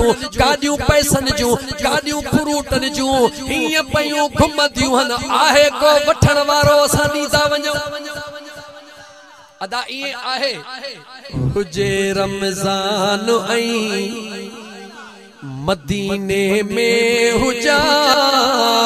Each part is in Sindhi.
جون گاڏيون پئسن جون گاڏيون فروٽن جون هيئن پيون گهمنديون هن آهي ڪو وٺڻ وارو اسان ڏي ٿا وڃون ادا ائين آهي هجي رمضان ۽ مديني ۾ هجان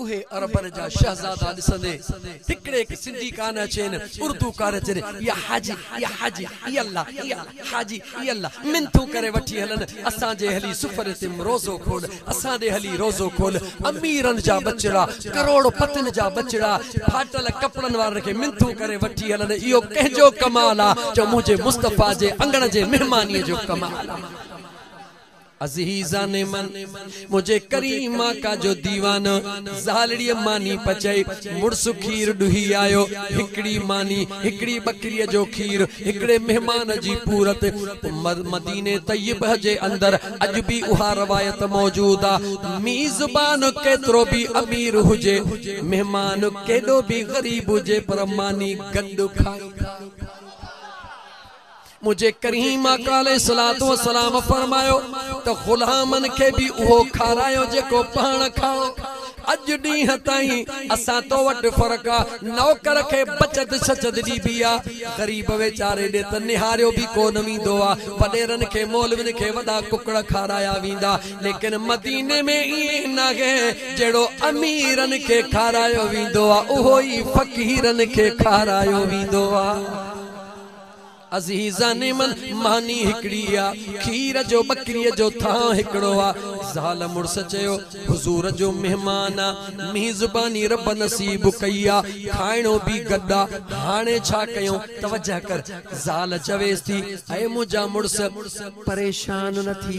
اهي عربن جا شهزادا ڏسندي هڪڙي هڪ سنڌي ڪانه اچين اردو ڪانه اچين يا حاجي يا حاجي اي الله اي الله حاجي اي الله منٿون ڪري وٺي هلن اسان جي هلي سفري تم روزو کول اسان ڏي هلي روزو کول اميرن جا ٻچڙا ڪروڙ پتين جا ٻچڙا ڦاٽل ڪپڙن وارن کي منٿون ڪري وٺي هلن اهو ڪنهن جو ڪمال آ جو منهنجي مصطفيٰ جي اڱڻ جي مهماني جو ڪمال آ. عزيزان من! منهنجي ڪريم آقا جو ديوان، زالڙيء ماني پچائي، مڙس کير ڏوهي آيو، هڪڙي ماني، هڪڙي ٻڪريء جو کير، هڪڙي مهمان جي پورت. مديني طيبه جي اندر اڄ به اها روايت موجود آ، ميزبان ڪيترو به امير هجي، مهمان ڪيڏو به غريب هجي پر ماني گڏ کائيندا. منهنجي ڪريم آقا عليه الصلوة والسلام فرمايو ته غلامن کي به اهو کارايو جيڪو پاڻ کائو. اڄ ڏينهن تائين اسان تو وٽ فرق آ نوڪر کي بچت شچت ڏبي آ غريب ويچاري ڏي ته نهاريو به ڪونه ويندو آ وڏيرن کي مولوين کي وڏا ڪڪڙ کارايا ويندا ليڪن مديني ۾ ائين ناهي جهڙو اميرن کي کارايو ويندو آ اهو ئي فقيرن کي کارايو ويندو آ. عزيزان من ماني هڪڙي ئي آ، کير جو ٻڪريء جو ٿانء هڪڙو آ. زال مڙس چيو، حضور جو مهمان آ، ميزباني رب نصيب ڪئي آ، کائڻو به گڏ آ، هاڻي ڇا ڪيون؟ توجهه ڪر! زال چويس ٿي، اي منهنجا مڙس! پريشان نه ٿي.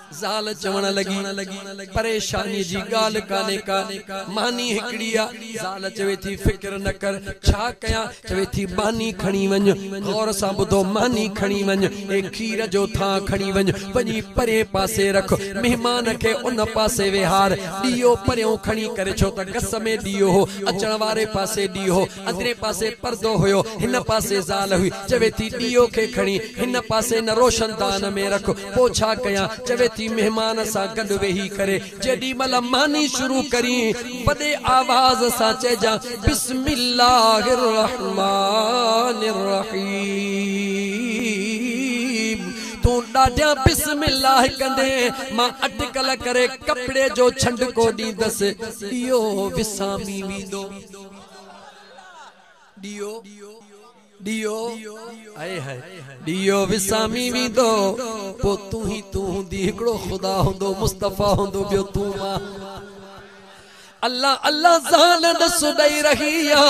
زال چوڻ لڳي، پريشانيء جي ڳالهه ڪانهي ڪا، ماني هڪڙي آ. زال چوي ٿي، فڪر نه ڪر، ڇا ڪيان؟ چوي ٿي، ماني کڻي وڃ. غور سان ٻڌو، ماني کڻي وڃ. اي کير جو ٿانء کڻي وڃ، وڃي پرئين پاسي رک. مهمان کي ان پاسي ويهار. ڏيئو پريون کڻي ڪري، ڇو ته گس ۾ ڏيئو هو، اچڻ واري پاسي ڏيئو هو. اندرين پاسي پردو هيو، هن پاسي زال هئي، چوي ٿي ڏيئو کي کڻي هن پاسي نه روشندان ۾ رک، پوء ڇا ڪيان، چوي ٿي مهمان سان گڏ ويهي ڪري جيڏي مهل ماني شروع ڪرين، وڏي آواز سان چئجان، بسم الله الرحمان الرحيم، تون ڏاڍيان بسم الله ڪندين، مان اٽڪل ڪري ڪپڙي جو ڇنڊڪو ڏيندس، ڏيئو وسامي ويندو. ڏيئو ڏيئو هائي هائي ڏيئو وسامي ويندو پوء تون هي تون هوندي هڪڙو خدا هوندو مصطفي هوندو ٻيو تون مان الله الله زال نس ڏئي رهي آ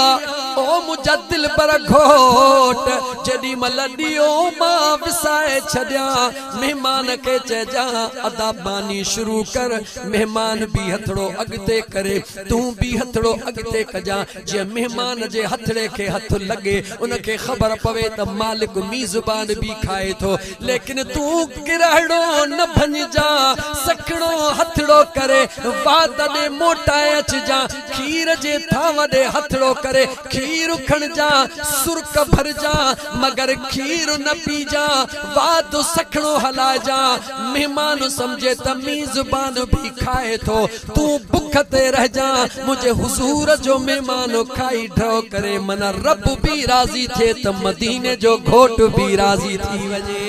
او منهنجا دلبر گهوٽ جيڏي مهل ڏيئو مان وسائي ڇڏيان مهمان کي چئجان ادا ماني شروع ڪر مهمان به هٿڙو اڳتي ڪري تون به هٿڙو اڳتي ڪجان جيئن مهمان جي هٿڙي کي هٿ لڳي ان کي خبر پوي ته مالڪ ميزبان به کائي ٿو ليڪن تون ڪرهڙو نه ڀڃجان سکڻو هٿڙو ڪري وات ڏي موٽائي اچجان کير جي ٿانو ڏي هٿڙو ڪري کير کڻجان سرڪ ڀرجان مگر کير نه پيجان وات سکڻو هلائجان مهمان سمجهي ته ميزبان به کائي ٿو تون بک تي رهجان منهنجي حضور جو مهمان کائي ڍؤ ڪري من رب به راضي ٿئي ته مديني جو گهوٽ به راضي ٿي وڃي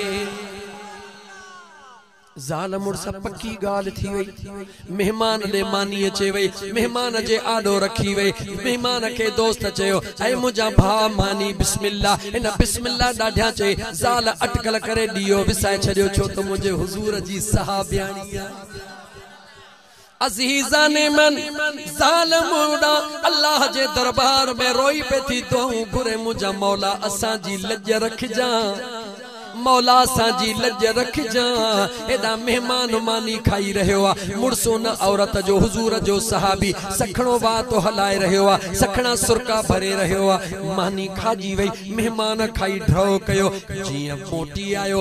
زال مڙس پڪي ڳالهه ٿي وئي مهمان ڏي ماني اچي وئي مهمان جي آڏو رکي وئي مهمان کي دوست چيو اي منهنجا ڀاء ماني بسم الله هن بسم الله ڏاڍيان چئي زال اٽڪل ڪري ڏيئو وسائي ڇڏيو ڇو ته منهنجي حضور جي صحابياڻي آهي عزيزان من ظالم اڏا الله جي دربار ۾ روئي پئي ٿي دعائون گهري منهنجا مولا اسان جي لڄ رکجان مولا اسان جي لڄ رکجان ايڏا مهمان ماني کائي رهيو آ مڙس ان عورت جو حضور جو صحابي سکڻو وات هلائي رهيو آ سکڻا سرڪا ڀري رهيو آ ماني کاڄي وئي مهمان کائي ڍؤ ڪيو جيئن موٽي آيو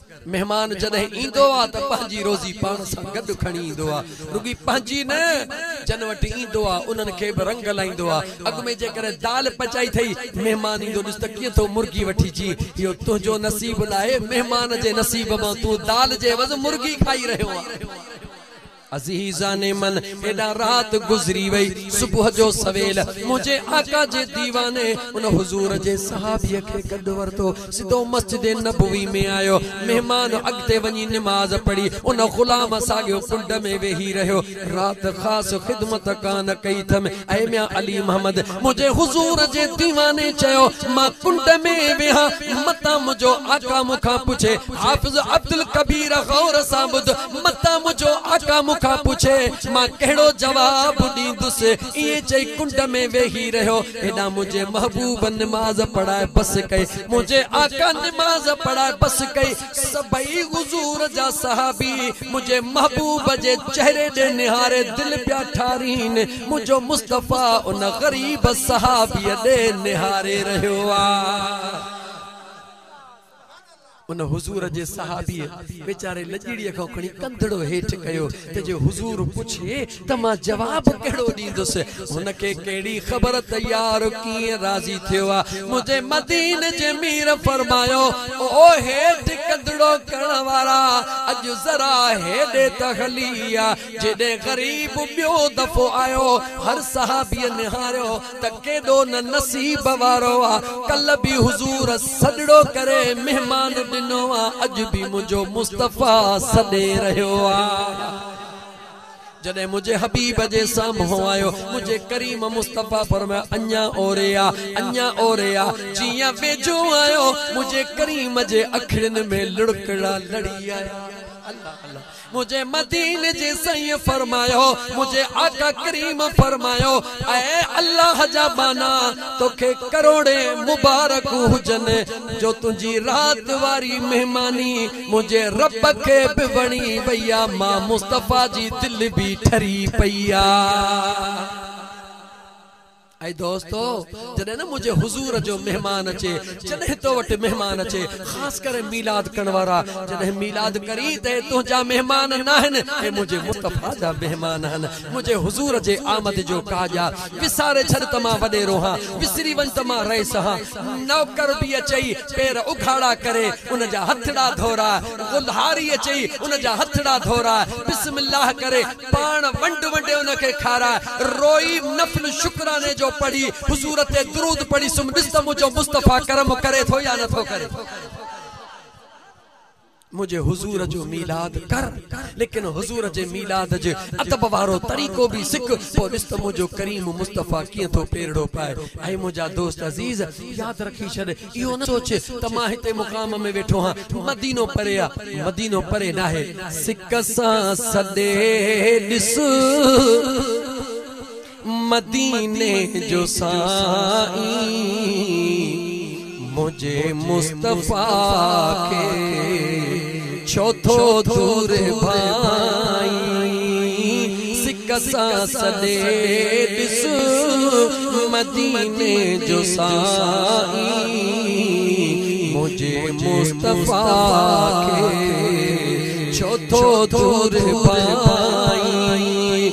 مهمان جڏهن ايندو آ ته پنهنجي روزي پاڻ سان گڏ کڻي ايندو آ. رڳي پنهنجي نه، جن وٽ ايندو آ انهن کي به رنگ لائيندو آ. اڳ ۾ جيڪڏهن دال پچائي ٿئي، مهمان ايندو ڏس ته ڪيئن ٿو مرغي وٺي جي. اهو تنهنجو نصيب ناهي، مهمان جي نصيب مان تون دال جي عوض مرغي کائي رهيو آهين. عزيزان من! هيڏانهن رات گذري وئي، صبح جو سويل منهنجي آقا جي ديواني ان حضور جي صحابيء کي گڏ ورتو، سڌو مسجد نبوي ۾ آيو. مهمان اڳتي وڃي نماز پڙهي، ان غلام ساڳيو ڪنڊ ۾ ويهي رهيو. رات خاص خدمت ڪا نه ڪئي اٿم. اي ميان علي محمد! منهنجي حضور جي ديواني چيو، مان ڪنڊ ۾ ويها، متان منهنجو آقا مون کان پڇي، حافظ عبدالڪبير غور سان ٻڌ، متان منهنجو آقا مون کان پڇي، مان ڪهڙو جواب ڏيندس؟ ائين چئي ڪنڊ ۾ ويهي رهيو. هيڏانهن منهنجي محبوب نماز پڙهائي بس ڪئي. منهنجي آقا نماز پڙهائي بس ڪئي. سڀئي حضور جا صحابي منهنجي محبوب جي چهري ڏي نهاري دل پيا ٺارين، منهنجو مصطفيٰ ان غريب صحابيء ڏي نهاري رهيو آ. ان حضور جي صحابيء ويچاري لڄڙيء کان کڻي ڪنڌڙو هيٺ ڪيو ته جي حضور پڇي ته مان جواب ڪهڙو ڏيندس، هن کي ڪهڙي خبر ته يار ڪيئن راضي ٿيو آ. منهنجي مديني جي مير فرمايو، او هيٺ ڪندڙو ڪرڻ وارا! اڄ ذرا هيڏي ته هلي آ، جيڏي غريب ٻيو دفعو آيو. هر صحابيء نهاريو ته ڪيڏو نه نصيب وارو آ، ڪلهه به حضور سڏڙو ڪري مهمان ڏنو آ، اڄ به منهنجو مصطفيٰ سڏي رهيو آ. جڏهن منهنجي حبيب جي سامهون آيو، منهنجي ڪريم مصطفيٰ فرمايو، اڃا اوري آ، اڃا اوري آ، جيئن ويجهو آيو، منهنجي ڪريم جي اکڙين ۾ لڙڪڙا لڙي آيا. الله الله منهنجي مديني جي سائين فرمايو، منهنجي آقا ڪريم فرمايو، اي الله جا ٻانها! توکي ڪروڙين مبارڪون هجن جو تنهنجي رات واري مهماني منهنجي رب کي به وڻي وئي آ، مان مصطفيٰ جي دل به ٺري پئي آ. اي دوستو! جڏهن نه منهنجي حضور جو مهمان اچي، جڏهن تو وٽ مهمان اچي، خاص ڪري ميلاد ڪرڻ وارا، جڏهن ميلاد ڪرين ته اهي تنهنجا مهمان ناهن، اهي منهنجي مصطفيٰ جا مهمان آهن. منهنجي حضور جي آمد جو ڪاڄ آ. وساري ڇڏ ته مان وڏيرو هان، وسري وڃ ته مان رئيس هان. نوڪر به اچئي. پير اگهاڙا ڪري ان جا هٿڙا ڌورا، غلهاريء چئي ان جا هٿڙا ڌورا، بسم الله ڪري پاڻ ونڊ ونڊي ان کي کاراء، روئي نفل شڪراني جو پڙهي، حضور تي درود پڙهي سم ڏس ته منهنجو مصطفيٰ ڪرم ڪري ٿو يا نه ٿو ڪري. منهنجي حضور جو ميلاد ڪر ليڪن حضور جي ميلاد جي ادب وارو طريقو به سک پوء ڏس ته منهنجو ڪريم مصطفيٰ ڪيئن ٿو پيرڙو پائي اي منهنجا دوست عزيز ياد رکي ڇڏ اهو نه سوچ ته مان هتي مقام ۾ ويٺو آهيان مدينو پري آهي مدينو پري ناهي سڪ سان سڏي ڏس. مديني جو سائين منهنجي مصطفيٰ کي ڇو ٿو دور ڀائين سڪ سان سڏي ڏس مديني جو سائين منهنجي مصطفيٰ کي ڇو ٿو دور ڀائين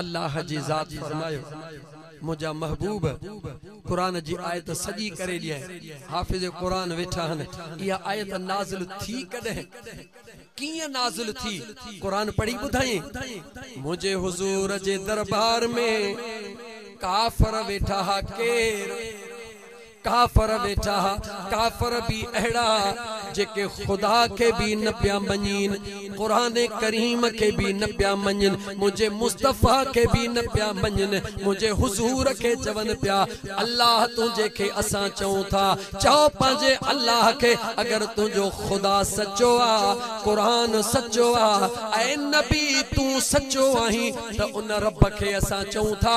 الله جي ذات فرمايو، منهنجا محبوب! قرآن جي آيت سڄي ڪري ڏينء، حافظ قرآن ويٺا آهن، اها آيت نازل ٿي ڪڏهن؟ ڪيئن نازل ٿي؟ قرآن پڙهي ٻڌائين؟ منهنجي حضور جي دربار ۾ ڪافر ويٺا ها ڪير؟ ڪافر ويجها، ڪافر به اهڙا جيڪي خدا کي به نه پيا مڃين، قرآن ڪريم کي به نه پيا مڃين، منهنجي مصطفيٰ کي به نه پيا مڃين، منهنجي حضور کي چون پيا الله تنهنجي کي اسان چئون ٿا، چئو پنهنجي الله کي اگر تنهنجو خدا سچو آ، قرآن سچو آ، اي نبي تون سچو آهين ته ان رب کي اسان چئون ٿا،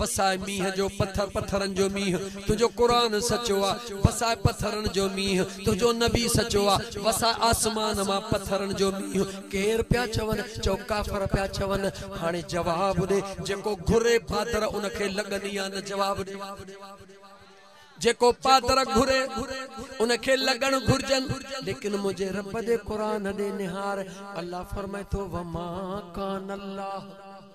وساء مينهن جو پٿر پٿرن جو مينهن تنهنجو قرآن سچو آ وساء پٿرن جو مينهن تنهنجو نبي سچو آ وساء آسمان مان پٿرن جو مينهن ڪير پيا چون چئو ڪافر پيا چون هاڻي جواب ڏي جيڪو گهري پادر ان کي لڳني آ نه جواب ڏي جيڪو پادر گهري ان کي لڳڻ گهرجن ليڪن منهنجي رب جي قرآن ڏي نهار الله فرمائي ٿو وما ڪان الله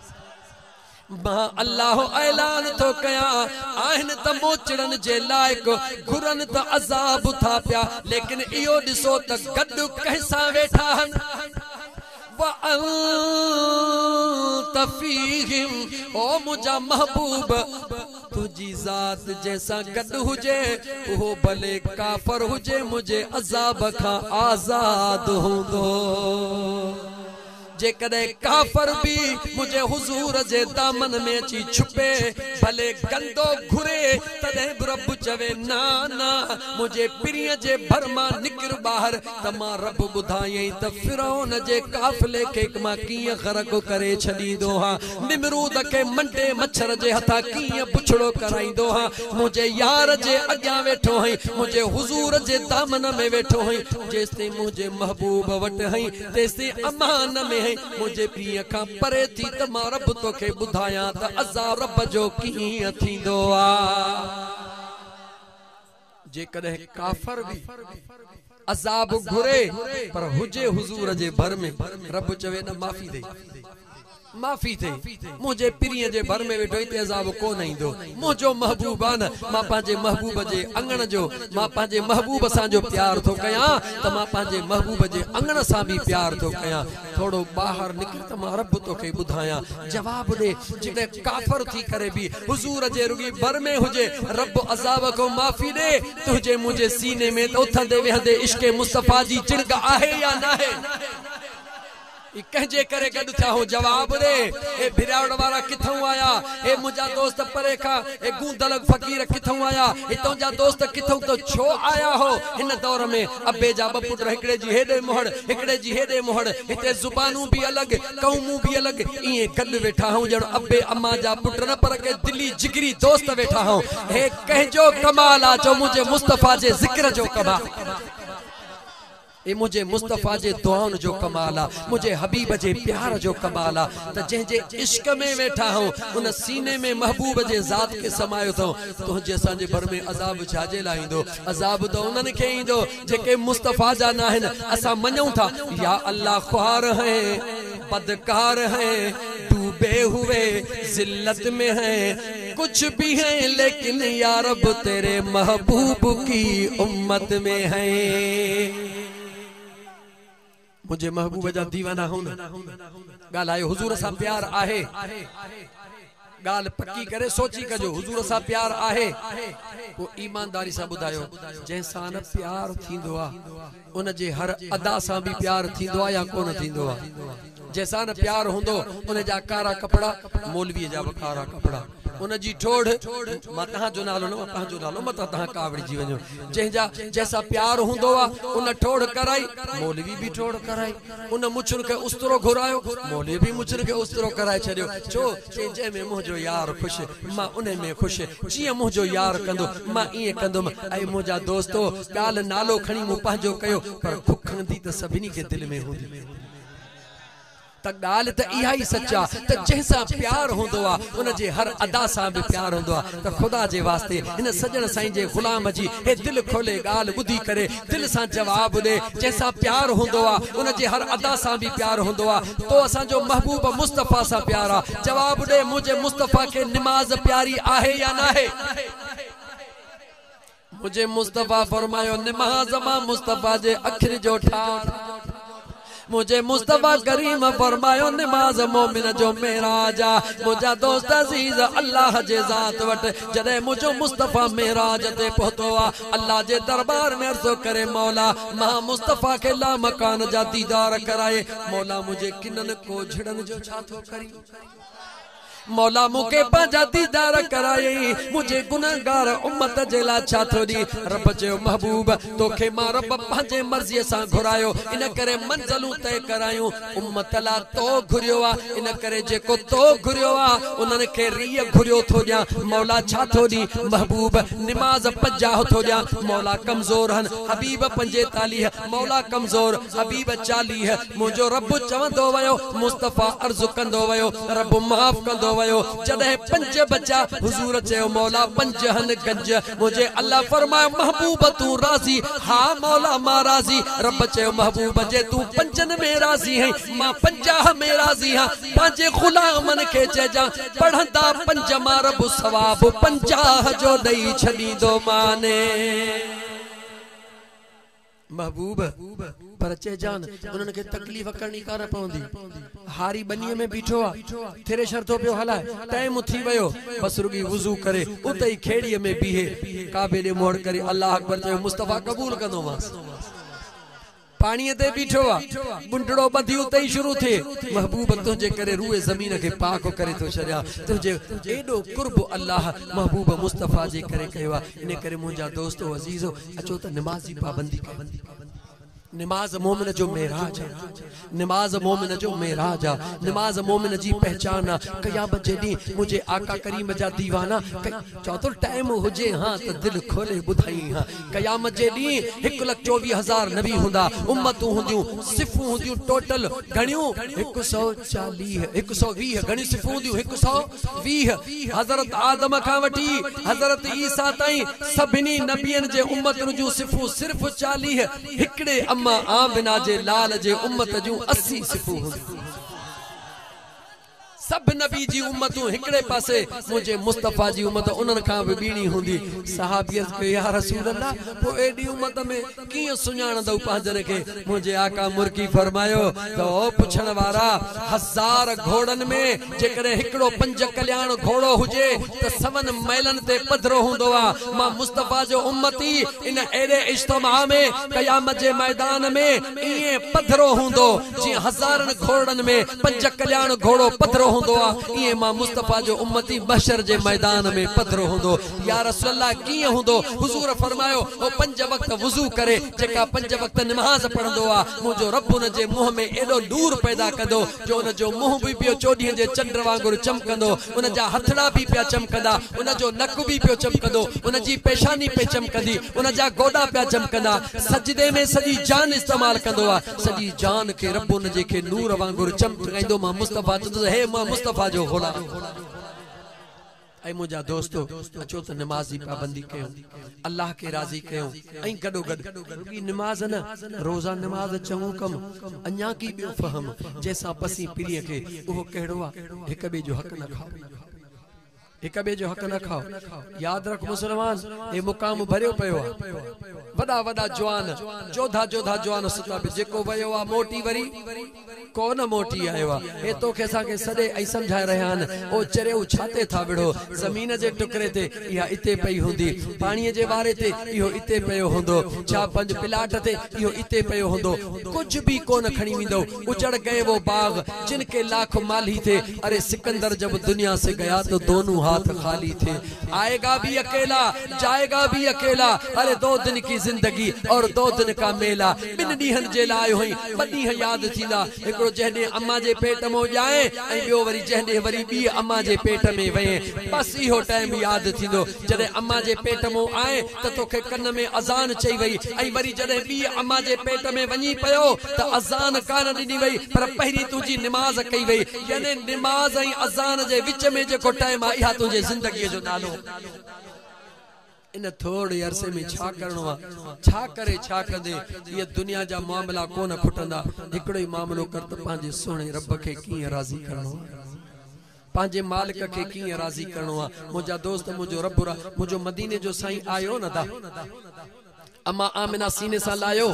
مان الله اعلان ٿو ڪيان، آهن ته موچڙن جي لائق، گهرن ته عذاب ٿا پيا، ليڪن اهو ڏسو ته گڏ ڪنهن سان ويٺا آهن. وانت فيهم، او منهنجا محبوب! تنهنجي ذات جنهن سان گڏ هجي، اهو ڀلي ڪافر هجي، منهنجي عذاب کان آزاد هوندو. جيڪڏهن ڪافر به منهنجي حضور جي دامن ۾ اچي ڇپي، ڀلي گندو گهري، تڏهن به رب چوي، نه نه، منهنجي پرينء جي ڀر مان نڪر ٻاهر ته مان رب ٻڌايئين ته فرعون جي قافلي کي مان ڪيئن غرق ڪري ڇڏيندو هان، نمرود کي منڊي مڇر جي هٿان ڪيئن بڇڙو ڪرائيندو هان، منهنجي يار جي اڳيان ويٺو هئين، منهنجي حضور جي دامن ۾ ويٺو هئين، جيستائين منهنجي محبوب وٽ هئين. تيستائين امان ۾ ۽ منهنجي پيء کان پري ٿي ته مان رب توکي ٻڌايان ته عذاب رب جو ڪيئن ٿيندو آهي. جيڪڏهن ڪافر به عذاب گهري پر هجي حضور جي ڀر ۾ رب چوي نه معافي ڏئي. معافي ٿئي، منهنجي پرينء جي ڀر ۾ ويٺو هتي عذاب ڪو نه ايندو، منهنجو محبوب آ نه، مان پنهنجي محبوب جي اڱڻ جو، مان پنهنجي محبوب سان جو پيار ٿو ڪيان ته مان پنهنجي محبوب جي اڱڻ سان به پيار ٿو ڪيان، ٿورو ٻاهر نڪر ته مان رب توکي ٻڌايان، جواب ڏي، جڏهن ڪافر ٿي ڪري به حضور جي رڳي ڀر ۾ هجي، رب عذاب کان معافي ڏي، تنهنجي منهنجي سيني ۾ ته اٿندي ويهندي عشق مصطفيٰ جي چڻڪ آهي يا ناهي؟ اي ڪنهن جي ڪري گڏ ٿيا هو؟ جواب ڏي. اي ڀيراوڙ وارا ڪٿئون آيا؟ اي منهنجا دوست پري کان؟ اي گوندلگ فقير ڪٿئون آيا؟ اي تنهنجا دوست ڪٿئون؟ تو ڇو آيا هو؟ هن دور ۾ ابي جا ٻه پٽ هڪڙي جي هيڏي مهڙ هڪڙي جي هيڏي مهڙ. هتي زبانون به الڳ، قومون به الڳ. ائين گڏ ويٺا هئون ڄڻ ابي امان جا پٽ نه پر ڪي دلي جگري دوست ويٺا هئون. هي ڪنهن جو ڪمال آ جو منهنجي مصطفيٰ جي ذڪر جو ڪمال. هي منهنجي مصطفيٰ جي دعائن جو ڪمال آ، منهنجي حبيب جي پيار جو ڪمال آ ته جنهن جي عشق ۾ ويٺا آهون، ان سيني ۾ محبوب جي ذات کي سمايو اٿئون، تنهنجي اسان جي ڀر ۾ عذاب ڇاجي لاء ايندو؟ عذاب ته انهن کي ايندو، جيڪي مصطفيٰ جا ناهن، اسان مڃون ٿا، يا الله خوار هين، بدڪار هين، ڊوبي هوئي ذلت ۾ هين، ڪجھ بي هين ليڪن يارب تيري محبوب ڪي امت مين هين. منهنجي محبوب جا ديوانا هون ڳالھ آهي حضور سان پيار آهي ڳالھ پڪي ڪري سوچي ڪجو حضور سان پيار آهي پو ايمانداري سان ٻڌايو جنهن سان نه پيار ٿيندو آ ان جي هر ادا سان به پيار ٿيندو آ يا ڪونه ٿيندو آ. جنهن سان نه پيار هوندو ان جا ڪارا ڪپڙا مولويء جا به ڪارا ڪپڙا. ان جي ٺوڙهه، مان تهان جو نالو نه مان پنهنجو نالو متان تهان ڪاوڙجي وڃو. جنهن جا جنهن سان پيار هوندو آ ان ٺوڙهه ڪرائي، مولوي به ٺوڙهه ڪرائي. ان مڇن کي استرو گهرايو، مولويء به مڇن کي استرو ڪرائي ڇڏيو. ڇو؟ چي جنهن ۾ منهنجو يار خوش، مان انهي ۾ خوش، جيئن منهنجو يار ڪندو، مان ائين ڪندم. اي منهنجا دوستو! ڳالهه نالو کڻي مون پنهنجو ڪيو، پر کک هندي ته سڀني کي دل ۾ هوندي. ته ڳالهه ته اها ئي سچ آ ته جنهن سان پيار هوندو آ، ان جي هر ادا سان به پيار هوندو آ. ته خدا جي واسطي هن سڄڻ سائين جي غلام جي هي دل کولي ڳالهه ٻڌي ڪري دل سان جواب ڏي جنهن سان پيار هوندو آ ان جي هر ادا سان به پيار هوندو آ تو اسان جو محبوب مصطفيٰ سان پيار آ جواب ڏي منهنجي مصطفيٰ کي نماز پياري آهي يا ناهي. منهنجي مصطفيٰ فرمايو نماز مان مصطفيٰ جي اکر جو ٺار منهنجي مصطفيٰ ڪريم فرمايو نماز مومن جو معراج آ منهنجا دوست عزيز الله جي ذات وٽ جڏهن منهنجو مصطفيٰ معراج تي پهتو آ الله جي دربار ۾ عرض ڪري مولا مان مصطفيٰ کي لامڪان جا ديدار ڪرائي مولا منهنجي ڪنن ڪوجهڙن جو ڇا ٿو ڪرين مولا مون کي پنهنجا ديدار ڪرايئي، منهنجي گنهگار امت جي لاء ڇا ٿو ڏئي؟ رب چيو، محبوب! تو کي مان رب پنهنجي مرضيء سان گهرايو، ان ڪري منزلون طئي ڪرايون. امت لاء تو گهريو آ، ان ڪري جيڪو تو گهريو آ، انهن کي ريء گهريو ٿو ڏيان. مولا ڇا ٿو ڏئي؟ محبوب! نماز پنجاهه ٿو ڏيان. مولا ڪمزور هن، حبيب پنجيتاليهه. مولا ڪمزور حبيب چاليهه منهنجو رب چوندو ويو مصطفيٰ عرض ڪندو ويو رب معاف ڪندو ويو جڏهن پنج بچا حضور چيو مولا پنج هن گنج منهنجي الله فرمايو محبوب تون راضي ها مولا مان راضي رب چيو محبوب جي تون پنجن ۾ راضي هين مان پنجاهه ۾ راضي هان پنهنجي غلامن کي چئجان پڙهندا پنج مان رب ثواب پنجاهه جو ڏئي ڇڏيندوماني. محبوب! پر چئجان، انهن کي تڪليف ڪرڻي ڪانه پوندي. هاري ٻنيء ۾ بيٺو آ، ٿريشر ٿو پيو هلائي. ٽيم ٿي ويو، بس رڳي وضو ڪري، اتي ئي کيڙيء ۾ بيهي، ڪعبي ڏي منهن ڪري الله اڪبر چيو، مصطفيٰ قبول ڪندومانس. پاڻيء تي بيٺو آ، ٻنڊڙو ٻڌي اتي ئي شروع ٿئي، محبوب! تنهنجي ڪري روئي زمين کي پاڪ ڪري ٿو ڇڏيان، تنهنجي ايڏو قرب الله محبوب مصطفيٰ جي ڪري ڪيو آ، انهيء ڪري منهنجا دوستو عزيزو! اچو ته نماز جي پابندي ڪيون. نماز مؤمن جو معراج آ. نماز مؤمن جو معراج آ. نماز مؤمن جي پهچان آ. قيامت جي ڏينهن منهنجي آقا ڪريم جا ديوانا قي. چئو ته ٽائيم هجي ها ته دل کولي ٻڌائين ها. قيامت جي ڏينهن هڪ لک چوويهه هزار نبي هوندا، امتون هونديون، صفون هونديون ٽوٽل گهڻيون؟ هڪ سؤ چاليهه، هڪ سؤ ويهه گهڻيون صفون هونديون؟ هڪ سؤ. ويهه، حضرت آدم کان وٺي حضرت عيسيٰ تائين سڀني نبين جي امتن جون صفون صرف چاليهه، هڪڙي اما آمنه جي لال جي امت جون اسي صفون هونديون. سڀ نبي جي امتون هڪڙي پاسي، منهنجي مصطفيٰ جي امت انهن کان به ٻيڻي هوندي. صحابي عرض ڪيو، يا رسول الله! پوء ايڏي امت ۾، ڪيئن سڃاڻندؤ پنهنجن کي؟ منهنجي آقا مرڪي فرمايو ته او پڇڻ وارا! هزار گهوڙن ۾ جيڪڏهن هڪڙو پنج ڪلياڻ گهوڙو هجي ته سون ميلن تي پڌرو هوندو آ. مان مصطفيٰ جو امتي ان اهڙي اجتماع ۾ قيامت جي ميدان ۾ ائين پڌرو هوندو، جيئن هزارن گهوڙن ۾ پنج ڪلياڻ گهوڙو پڌرو هوندو آ، ائين مان مصطفيٰ جو امتي محشر جي ميدان ۾ پڌرو هوندو. يا رسول الله ڪيئن هوندو؟ حضور فرمايو، هو پنج وقت وضو ڪري، جيڪا پنج وقت نماز پڙهندو آ، منهنجو رب ان جي منهن ۾ ايڏو نور پيدا ڪندو جو ان جو منهن به پيو چوڏهين جي چنڊ وانگر چمڪندو، ان جا هٿڙا به پيا چمڪندا، ان جو نڪ به پيو چمڪندو، ان جي پيشاني پئي چمڪندي، ان جا گوڏا پيا چمڪندا، سجدي ۾ سڄي جان استعمال ڪندو آ، سڄي جان کي رب ان جي کي نور وانگر چمڪائيندو، مان مصطفيٰ چوندس، هي مان مصطفيٰ جو غلام! اي منهنجا دوستو! اچو ته نماز جي پابندي ڪيون، الله کي راضي ڪيون ۽ گڏوگڏ رڳي نماز نه، روزه نماز چڱو ڪم، اڃاڪي ٻيو فهم، جنهن سان پسين پليء کي، اهو ڪهڙو آ؟ هڪ ٻئي جو حق نه کائو. هڪ ٻئي جو حق نه کائو. ياد رک مسلمان! هي مقام ڀريو پيو آ. وڏا وڏا جوان، جوڌا جوڌا جوان ستا پيا. جيڪو ويو آ، موٽي وري. ڪو نه موٽي آيو آ. هي توکي اسان کي سڏي ۽ سمجهائي رهيا آهن. او چريو ڇاتي ٿا وڙهو. زمين جي ٽڪري تي اها اتي پئي هوندي. پاڻيء جي واري تي اهو اتي پيو هوندو. ڇا پنج پلاٽ تي اهو اتي پيو هوندو. ڪجهه به ڪو نه کڻي ويندو. اجڙ گئي وو باغ جن ڪي لاک مالهي ٿي. اري سڪندر جب دنيا سي گيا تو دونون هاٿ خالي ٿي. آئي گا بي اڪيلا جائي گا بي اڪيلا اري دو دن ڪي زندگي اور دو دن ڪا ميلا ٻن ڏينهن جي لاء هئي ٻه ڏينهن ياد ٿيندا، هڪڙو جنهن ڏينهن اماء جي پيٽ مئو ڄائين ۽ ٻيو وري جنهن ڏينهن وري ٻيء اماء جي پيٽ ۾ وئين. بس اهو ٽائيم ياد ٿيندو، جڏهن اماء جي پيٽ مئو آئين ته توکي ڪن ۾ اذان چئي وئي ۽ وري جڏهن ٻيء اماء جي پيٽ ۾ وڃين پيو ته اذان ڪانه ڏني وئي پر پهرين تنهنجي نماز ڪئي وئي يعني نماز ۽ اذان جي وچ ۾ جيڪو ٽائيم آهي اها تنهنجي زندگيء جو نالو ان ٿورڙي عرصي ۾ ڇا ڪرڻو آ؟ ڇا ڪري ڇا ڪندي؟ اهي دنيا جا معاملا ڪونه کٽندا. هڪڙو ئي معاملو ڪر ته پنهنجي سهڻي رب کي ڪيئن راضي ڪرڻو آ؟ پنهنجي مالڪ کي ڪيئن راضي ڪرڻو آ؟ منهنجا دوست! منهنجو رب را منهنجو مديني جو سائين آيو نه دا. اما آمنه سيني سان لاهيو،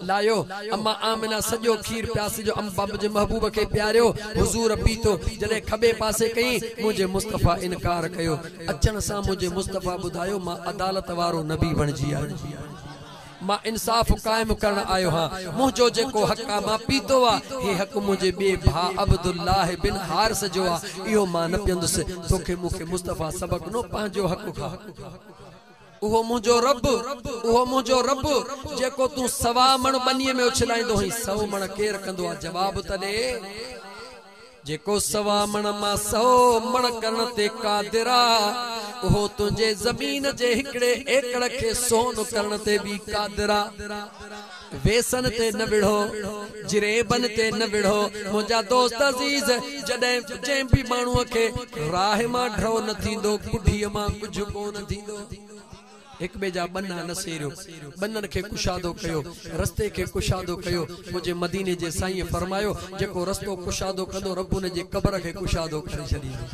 لاهيو، اما آمنه سڄو کير پياسي جو ام بابه جي محبوب کي پياريو، حضور پيتو، جڏهن کٻي پاسي ڪيئين، منهنجي مصطفيٰ انڪار ڪيو، اچڻ سان منهنجي مصطفيٰ ٻڌايو مان عدالت وارو نبي بڻجي آيو، مان انصاف قائم ڪرڻ آيو هان، منهنجو جيڪو حق آ مان پيتو آ، هي حق منهنجي ٻئي ڀاء عبدالله بن حارث جو آ، اهو مان نه پيئندس، توکي مون کي مصطفيٰ سبق ڏنو پنهنجو حق کاء. اهو منهنجو رب، اهو منهنجو رب، جيڪو تون سوا مڻ ٻنيء ۾ اڇلائيندو هئين، سؤ مڻ ڪير ڪندو آهي؟ جواب ته ڏي! جيڪو سوا مڻ مان سؤ مڻ ڪرڻ تي قادر آ، اهو تنهنجي زمين جي هڪڙي ايڪڙ کي سون ڪرڻ تي به قادر آ. ويسن تي نه وڙهو، جريبن تي نه وڙهو، منهنجا دوست عزيز! جڏهن جنهن به ماڻهوء کي راهه مان ڍؤ نه ٿيندو، ڪڍيء مان ڪجهه ڪو نه ٿيندو. هڪ ٻئي جا ٻنها نه سيريو، ٻنهن کي ڪشادو ڪيو، رستي کي ڪشادو ڪيو، منهنجي مديني جي سائينء فرمايو، جيڪو رستو ڪشادو ڪندو، رب ان جي قبر کي ڪشادو ڪري ڇڏيندو.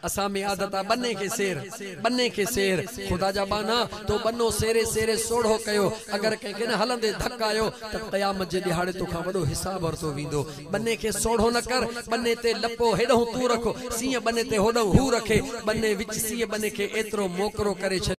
اسان ۾ عادت آ ٻني کي سير، ٻني کي سير، خدا جا ٻانها تو ٻنو سيري سيري سوڙهو ڪيو، اگر ڪنهن کي نه هلندي ڌڪ آيو ته قيامت جي ڏهاڙي توکان وڏو حساب ورتو ويندو، ٻني کي سوڙهو نه ڪر، ٻني تي لپو هيڏهون تون رک، سينهن ٻني تي هوڏهون هو رکي، ٻني وچ سينهن ٻني کي ايترو موڪرو ڪري ڇڏيو.